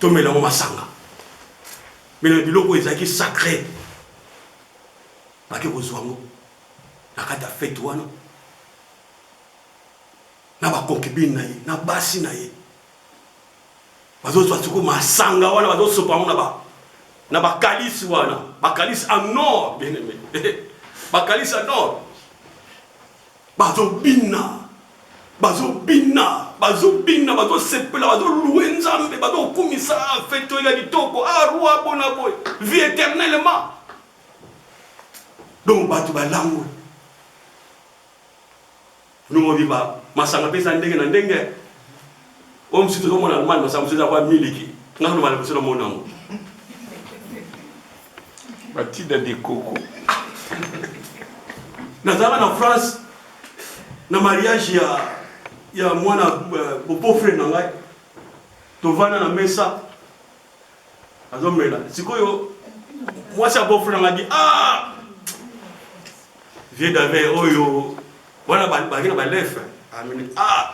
tomela yango masanga mela biloko oyo ezalaki sacre bake kozwa yango na kati ya fete wana na baconcubine na ye na basi na ye bazozwa siko masanga wana bazosopa yango na ba na bakalisi wana bakalisi en nord bien aimé bakalisi en nord Bazo bina bazo bina bazo bina bazo sepela bazo loue nzambe bazo kumisa ah fete oyo ya litoko ah roi bona boye vie eternellement donc bato balangwe nongo biba masanga pesa ndenge na ndenge Oyo mosusu tozo mona Allemagne ba sambusa eza kwa miliki. Nga kutu mbala liboso na mona yango. Ba tida de coco. Nazalaka na France na mariage ya ya mwana bopo frère na ngai. Tovanda na mesa. Azo mela. Sikoyo mwasi ya beau frère na ngai dit ah vieux David oyo wana ba ba ba lef. Amini ah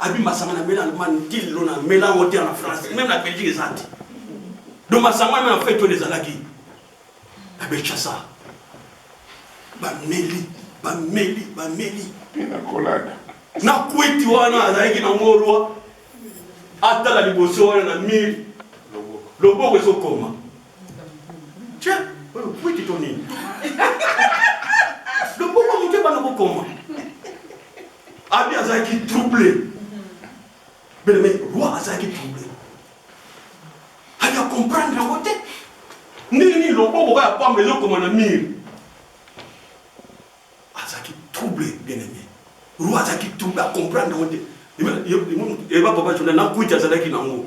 Abi masanga na mela Allemagne ti lelo na mela yango te na France même na Belgique eza te donc masanga wana na fete oyo ezalaki na Kinshasa bameli bameli bameli nakolada na kwiti wana azalaki na ngolwa atala liboso wana na mire loboko ezokoma Tchè, oyo kwiti to nini? Loboko moto ebanda kokoma. Abi azalaki trouble. Bele me roi azalaki trouble. Abi a comprendre yango te. Ndenge nini loboko kaka pamba ezokoma na mire? Azalaki trouble bien aimé. Roi azalaki trouble a comprendre yango te. Eba papa Jonah na kwiti azalaki nango.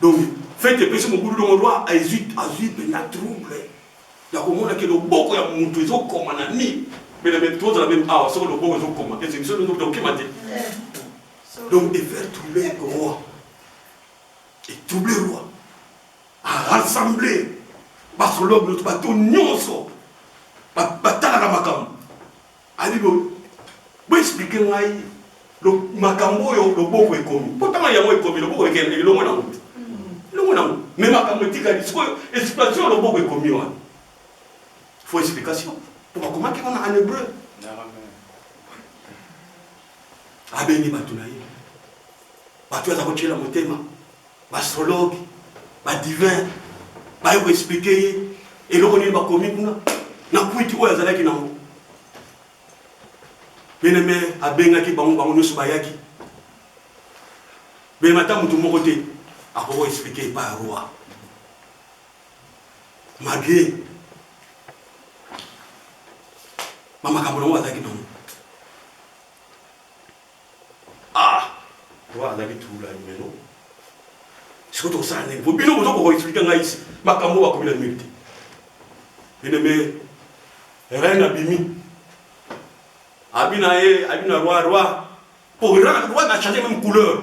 Donc fete epesi mobulu donc roi ezui azui penza trouble ya komona ke loboko ya mutu ezo koma na nini mais na mais tozala meme awa soki loboko ezo koma est ce biso nde toko kima te donc e faire trouble roi e trouble roi a rassembler ba sologue bato nionso batalaka makambo Abi bo bo expliquer ngai lo makambo oyo loboko ekomi mpo ntango yango ekomi loboko ekende elongo na moto elongo na moto me makambo etikali sikoyo explication ya loboko ekomi wana fo explication mpo bakomaki wana en hebreu abengi bato na ye bato aza kotyela motema B'astrologue, ba divin baye ko expliquer ye eloko nini bakomi kuna na kwiti oyo azalaki nango. Beleme abengaki bango, bango nionso bayaki. Beleme ata mutu moko te akoki ko expliquer epai ya roi malgre ba makambo nango azalaki nango. Ah! Wana azalaki tulu la numero. Siko tokosala nini? Po bino bozo ko expliquer ngai ici. Makambo bakomi na mur te. Bino me reine abimi. Abina ye, abina roi roi. Po roi na changer même couleur.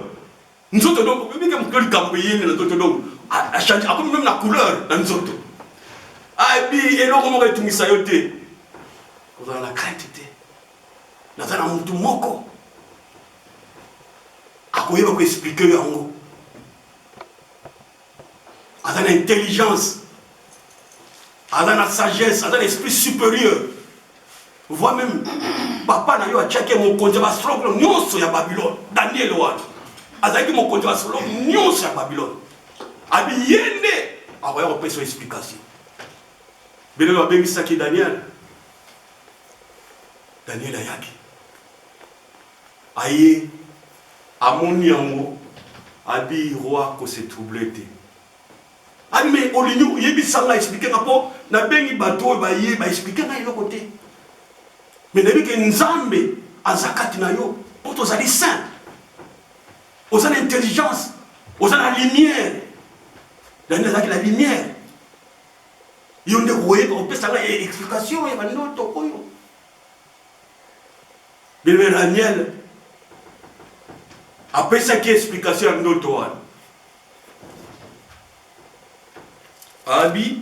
Nzoto donc bimi ke mukeli kambo yende na nzoto donc a changer akomi même na couleur na nzoto. Abi eloko moko etungisa yo te. Kozala na crainte te. Naza na mutu moko akoyeba ko expliquer yo yango, aza na intelligence, aza na sagesse, aza na esprit supérieur. Vois même papa na yo atiaki ye mokonzi ya basolokolo nyonso ya Babylone, Daniel wana azalaki mokonzi ya basolokolo nyonso ya Babylone. Abi ye nde akoya kopesa explication. Bino babengisaki Daniel Daniel ayaki, aye, amoni yango, abi roi ko se troubler te. Abi mais olingi oyebisa nga, expliquer nga po nabengi bato oyo baye ba expliquer nga eloko te. Mais nayebi ke Nzambe aza kati na yo po tozali saint. Oza na intelligence, oza na lumière. Daniel azalaki na lumière. yo nde koyeba kopesa ngai eh, explication ya bandoto oyo bebe daniel apesaki explication ya ndoto wana abi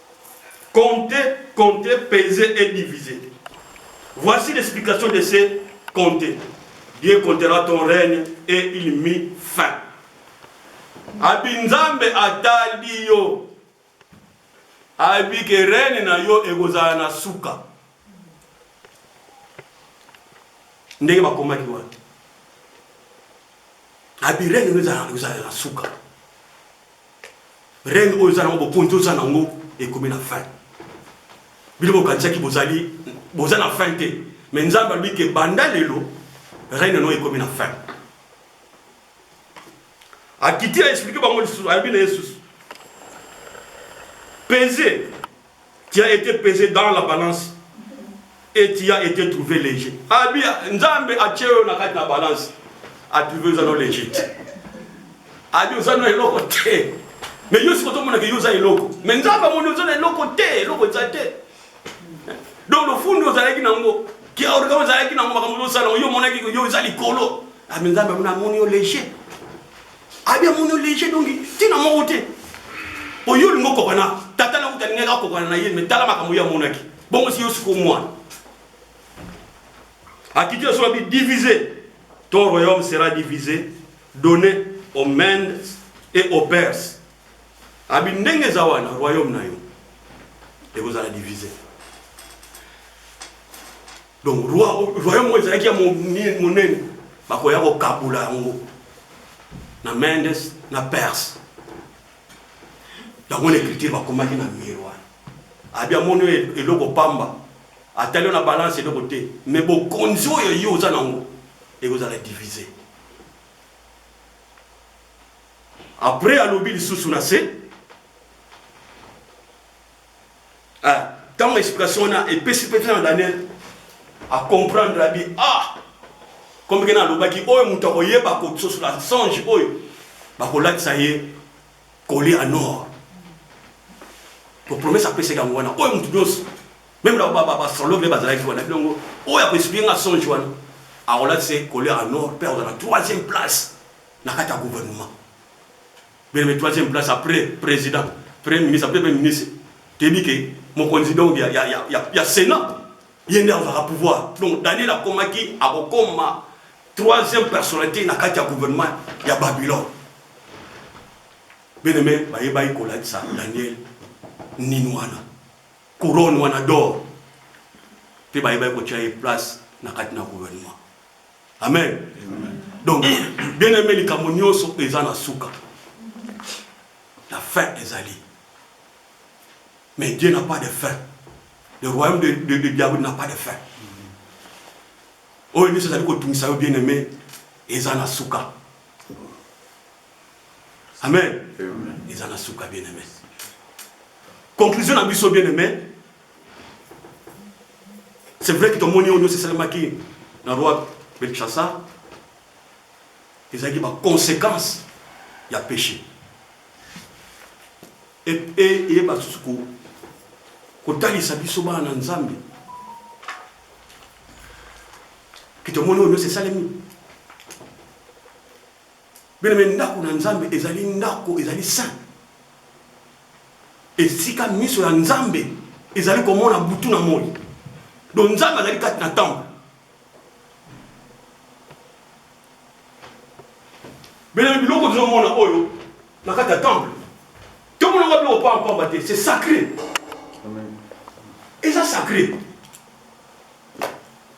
Compter, compter, peser et diviser. Voici l'explication de ce compter. Dieu comptera ton règne et il mit fin. Abi Nzambe atali yo. Abi ke règne na yo ekozala na suka. ndenge bakomaki wana abi rene oyo ezala na suka rene oyo eza nango bokonzi oza nango ekomi na fin bino bokanisaki bozali boza na fin te me nzambe alobi ke banda lelo rene no ekomi na fin akiti aexplike bango lisusu alobi na ye lisusu peze Tu as ete pese dans la balance et tu as ete trouve leger. Abi Nzambe atie yo na kati na balance. A trouve oza no leger. Abi oza no eloko te. Mais yo sikoto mona ke yo oza eloko. Mais Nzambe amoni oza na eloko te, eloko eza te. Donc le fundo ozalaki nango, ki organe ozalaki nango makambo ozosala yo omonaki yo eza likolo. Abi Nzambe amoni yo leger. Abi ya mono léger donc tina moko te. Oyo olingi okokana tata na kuta alingaki akokana na ye me tala makambo ye amonaki bongo si yo siko mwana akiti na soki divise ton royaume sera divise donné aux Mendes et aux Perses abi ndenge eza wana royaume na yo ekozala divise Donc royaume oyo ezalaki ya monene, bakoya kokabola yango na Mendes na Perse. Yango na ecriture bakomaki na mur wana. Abi amoni oyo eloko pamba, atali na balance eloko te, mais bokonzi oyo yo oza nango ekozala divise. Après alobi lisusu na se Ah tango explication wana epesi mpe na Daniel a comprendre abi ah comme kena alobaki oyo moto akoyeba kososola songe oyo bakolatisa ye colie en or po promesse apesaki yango wana oyo moto nyonso meme na baastrologue nde bazalaki wana bilongo oyo akoexplike nga songe wana akolatisa ye colie en or mpe akozala na troisième place na kati ya gouvernement Bele me troisième place après president premier ministre après premier ministre toyebi ke mokonzi donc ya, ya, ya, ya, ya senat ye nde azwaka pouvoir donc daniel akomaki akokoma troisième personnalité na kati ya gouvernement ya babylone bele me bayebaki kolatisa daniel nini wana couronne wana dor mpe bayebaki kotya ye place na kati na gouvernement Amen. Donc, bien aimé, les Camoniones sont présents à Souka. La fin est allée. Mais Dieu n'a pas de fin. Le royaume de, de, de Diablo n'a pas de fin. oyo nyonso ezali kotungisa yo bien aimé eza na suka amen eza na suka bien aimé conclusion na biso bien aimé C'est vrai que tomoni oyo nyonso esalemaki na roi Belshazzar ezalaki ba conséquences ya péché eyeba susu kotalisa biso bana na Nzambe que tomoni oyo nyonso esalemi Bien-aime, ndako na Nzambe ezali ndako, ezali saint, esika miso ya Nzambe ezali komona butu na moi. Donc Nzambe azali kati na temple. Bien-aime, biloko tozomona oyo na kati ya temple tomonaka biloko pamba pamba te, c'est sacré. Eza sacré.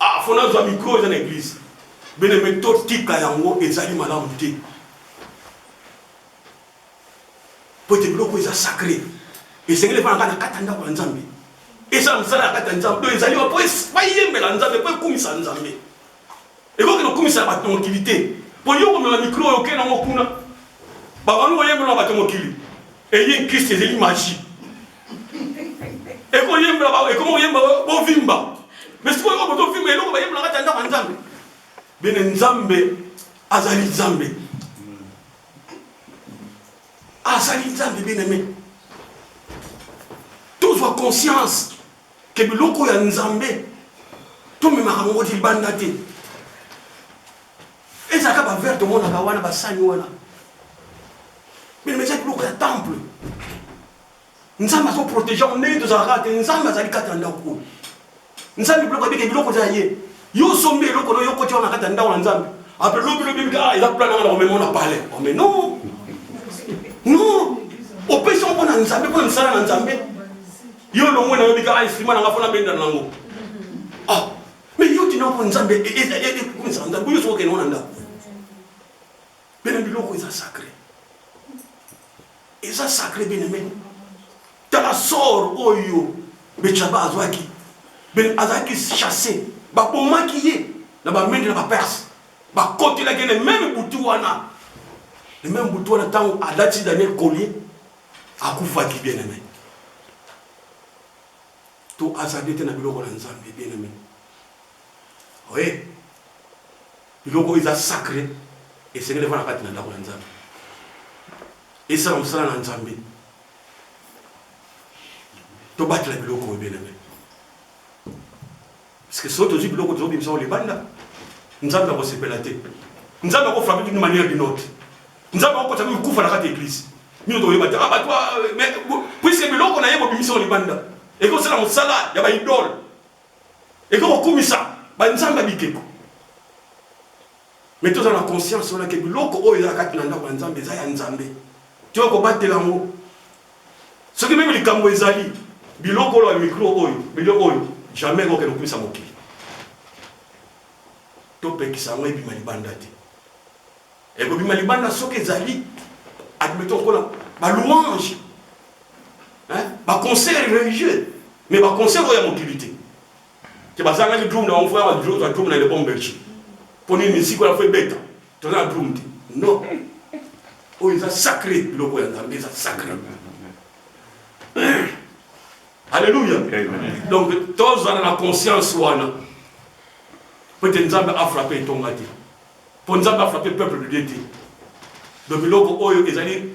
Ah, faut nazwa micro eza na église. Bene me totika yango ezali malamu te. Po ete biloko eza sacré. Esengeli efana kaka na kati ya ndako ya Nzambe. Eza mosala ya kati ya Nzambe. Donc ezali po bayembela Nzambe, po ekumisa Nzambe. Ekoki kokumisa bato na mokili te mpo yo komema mikro oyo okei nango kuna babandi koyembela bato ya mokili eye nkristo ezali magi ekoyembela ekomi koyemba bovimba me sikoyo oyo botovimba eloko bayembela kati ya ndako ya nzambe bene nzambe azali nzambe azali nzambe bien aime tozwa conscience Que biloko ya Nzambe tomemaka ngo libanda te. Ezalaka ba verre tomonaka wana ba sani wana. Mais mais ezalaki biloko ya temple. Nzambe azo protéger ngo ndenge tozalaka te. Nzambe azali kati na ndako oyo. Nzambe biloko abike biloko eza ye. Yo osombi eloko oyo okoti wana kati ya ndako na Nzambe. Après lobi lobi bika ah, eza plan nanga na komema na palais. Oh mais non. Non. Opesi ngo mpo na Nzambe mpo na misala na Nzambe. Yo longwe na yo bika ay frima na nga fona benda na ngo. Ah, mais yo tina ko nzambe e e e e ko nzambe ko yo so ke nona nda. Bena biloko eza sacré. Eza sacré bena men. Tala sort oyo Bechaba azwaki. Ben azaki chassé. Babomaki ye na bamende na baperse. Bakotelaki ne meme butu wana. Le meme butu wana ntango alati Daniel Collier Akufaki, bien-aime. To hasarder te na biloko na Nzambe, bien-aime. Oui. Biloko oyo eza sacre, esengeli efanda kati na ndako ya Nzambe. Esala mosala na Nzambe. Tobatela biloko oyo, bien-aime. Parceque soki tozui biloko tozo bimisa yango libanda nzambe ako sepela te nzambe ako frappe d'une manière d'une autre nzambe ako kotisa mimi kufa na kati eglise mino tokoyeba te ah bato ah, mais puisque biloko na ye bobimisa yango libanda eko osala mosala ya ba idole eko kokumisa ba nzambe ya bikeko Mais toza na conscience wana ke biloko oyo eza na kati na ndako ya Nzambe eza ya Nzambe. Toye kobatela yango. Soki meme likambo ezali, biloko oyo ya micro oyo, biloko oyo jamais ekoki kokende kokumisa mokili. Topekisa yango ebima libanda te. Ekobima libanda soki ezali admettons kola ba louange hein ba concert religieux mais ba concert oyo ya mokili te te bazangaki drum na bango fo yaba drum drum na lebon belge po nini musique wana fo ebeta toza na drum te non oyo eza sacré biloko ya nzambe eza sacré alleluya donc tozala na conscience wana po ete nzambe afrape etonga te po nzambe afrape peuple de dieu te donc biloko oyo ezali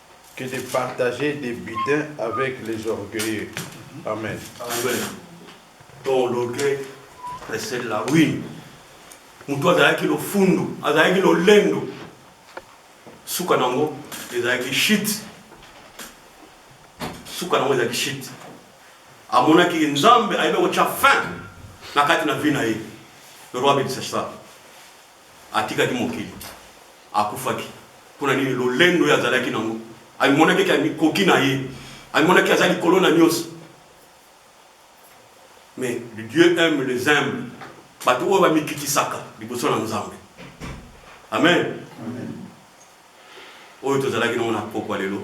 que de partager des butins avec les orgueilleux amen. Amen to l'orgueil précède la ruine. Moto azalaki lofundu, azalaki lolendo, suka nango ezalaki shit, suka nango ezalaki shit. Amonaki Nzambe ayebi kotya fin na kati na vie na ye. Le roi bénisse ça. Atikaki mokili. Akufaki. Mpo na nini? Lolendo oyo azalaki na yango. Amimonaki ete amikoki na ye. Amimonaki aza likolo na nyonso. Mais Dieu aime les humbles. Bato oyo bamikitisaka liboso na Nzambe. Amen. Amen. Oyo tozalaki nango na pokwa lelo.